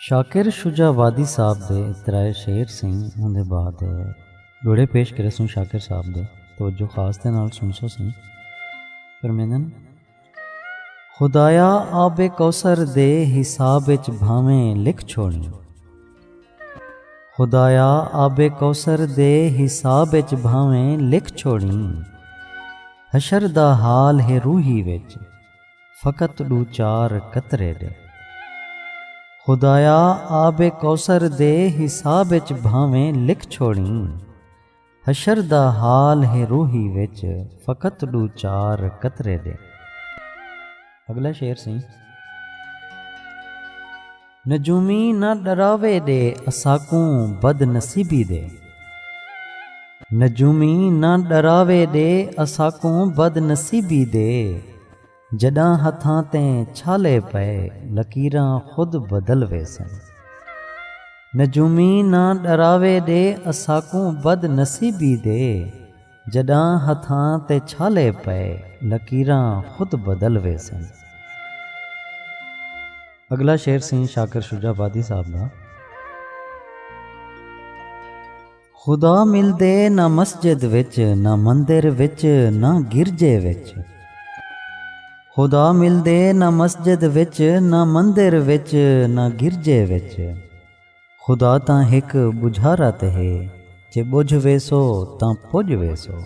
شاکر شجاع وادی صاحب دے اترائے شعر سئیں اوں دے بعد جوڑے پیش کرے سوں شاکر صاحب دے توجہ خاص دے نال سن سو سئیں فرمیندن خدایا آب کوثر دے حساب اچ بھاویں لکھ چھوڑ خدایا آب کوثر دے حساب اچ بھاویں لکھ چھوڑیں حشر دا حال ہے روحی وچ فقط ڈو چار قطرے دے خدایا آب کوثر دے حساب اچ بھاویں لکھ چھوڑیں حشر دا حال ہے روہی وچ فقط ݙو چار قطرے دے۔ اڳلا شعر سئیں۔ نجومی نہ ݙراوے ݙے اساکوں بد نصیبی دے۔ نجومی نہ ݙراوے ݙے اساکوں بد نصیبی دے۔ جݙاں ہتھاں تے چھالے پئے لکیراں خود بدل ویسن۔ نجومی نہ ݙراوے ݙے اساکوں بد نصیبی دے جݙاں ہتھاں تے چھالے پئے لکیراں خود بدل ویسن۔ اڳلا شعر سئیں شاکر شجاع آبادی صاحب دا۔ خدا ملدے نہ مسجد وچ نہ مندر وچ نہ گرجے وچ۔ خدا ملدے نہ مسجد وچ نہ مندر وچ نہ گرجے وچ۔ خدا تاں ہک بجھارا تے ہے جے بجھ ویسو تاں پج ویسو۔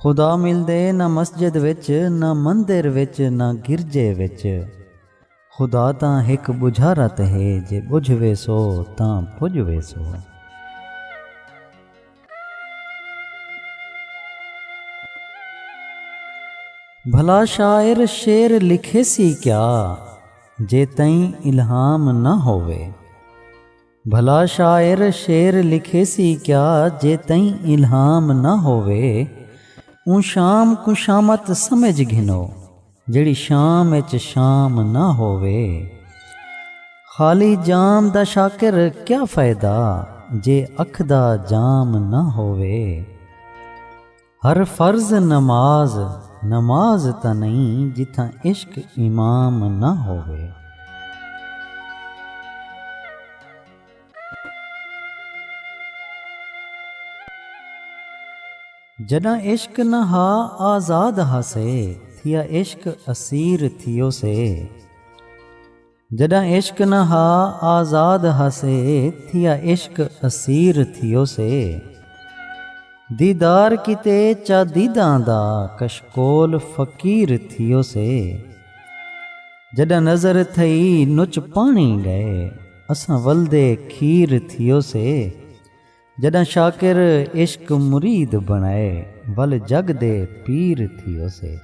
خدا ملدے نہ مسجد وچ نہ مندر وچ نہ گرجے وچ۔ خدا تاں ہک ٻجھا رت ہے جے ٻجھ ویسو تاں پڄ ویسو۔ بھلا شاعر شعر لکھیسی کیا جے تئیں الہام نہ ہووے۔ بھلا شاعر شعر لکھیسی کیا جے تئیں الہام نہ ہووے اوں شام کوں شامت سمجھ گھنو جیڑھی شام اچ شام نہ ہووے خالی جام دا شاکر کیا فائدہ جے اکھ دا جام نہ ہووے۔ ہر فرض نماز نماز تاں نئیں جتھاں عشق امام نہ ہووے۔ جݙاں عشق نہ ہا آزاد ہاسے تھیا عشق اسیر تھیوسے۔ جݙاں عشق نہ ہا آزاد ہاسے تھیا عشق اسیر تھیوسے دیدار کیتے چا دیداں دا کشکول فقیر تھیوسے جݙاں نظر تھئی نچ پاݨی ڳئے اساں ولدے کھیر تھیوسے۔ جݙاں شاکر عشق مرید بݨائے ول جڳ دے پیر تھیوسے۔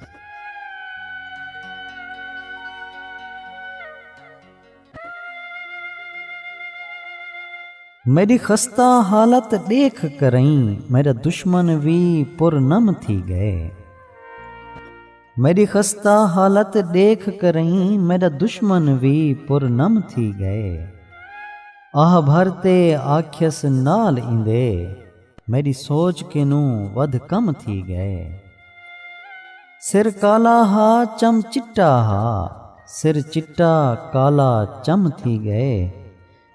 میݙی خستہ حالت ݙیکھ کرئیں میݙا دشمن وی پر نم تھی ڳئے۔ میݙی خستہ حالت ݙیکھ کرئیں میݙا دشمن وی پر نم تھی ڳئے۔ آہ بھر تے آکھیس نال ایندے میݙی سوچ کنوں ودھ کم تھی ڳئے۔ سر کالا ہا چم چٹا ہا سر چٹا کالا چم تھی ڳئے۔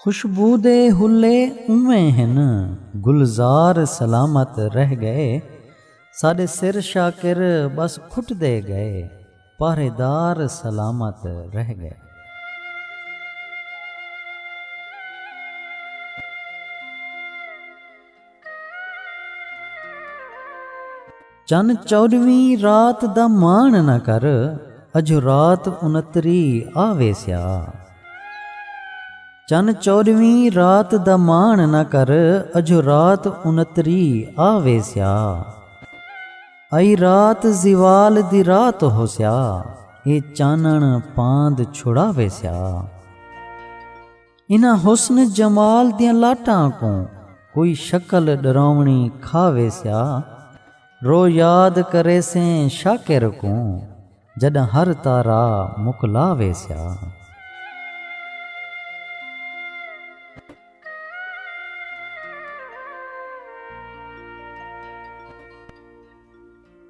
خوشبو دے حلے اونویں ہن گلزار سلامت رہ گئے ساڈے سر شاکر بس کھٹدے گئے پہرے دار سلامت رہ گئے۔ چن چوݙویں رات دا ماݨ نہ کر اجھو رات انتری آ ویسیا چن چوݙویں رات دا ماݨ نہ کر اجھو رات انتری آ ویسیا ائی رات زوال دی رات ہوسیا اے چانݨ پاند چھڑا ویسیا انہاں حسن جمال دیاں لاٹاں کوں کوئی شکل ڈراونی کھا ویسیا رو یاد کریسیں شاکر کوں جڈاں ہر تارا مکلا ویسیا۔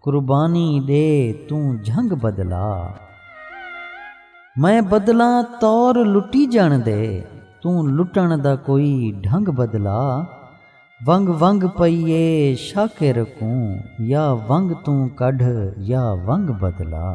قربانی ݙے توں جھنگ بدلا۔ میں بدلاں طور لٹیجݨ دے توں لٹݨ دا کوئی ڈھنگ بدلا۔ ونگ ونگ پئی اے شاکر کوں یا ونگ توں کڈھ یا ونگ بدلا۔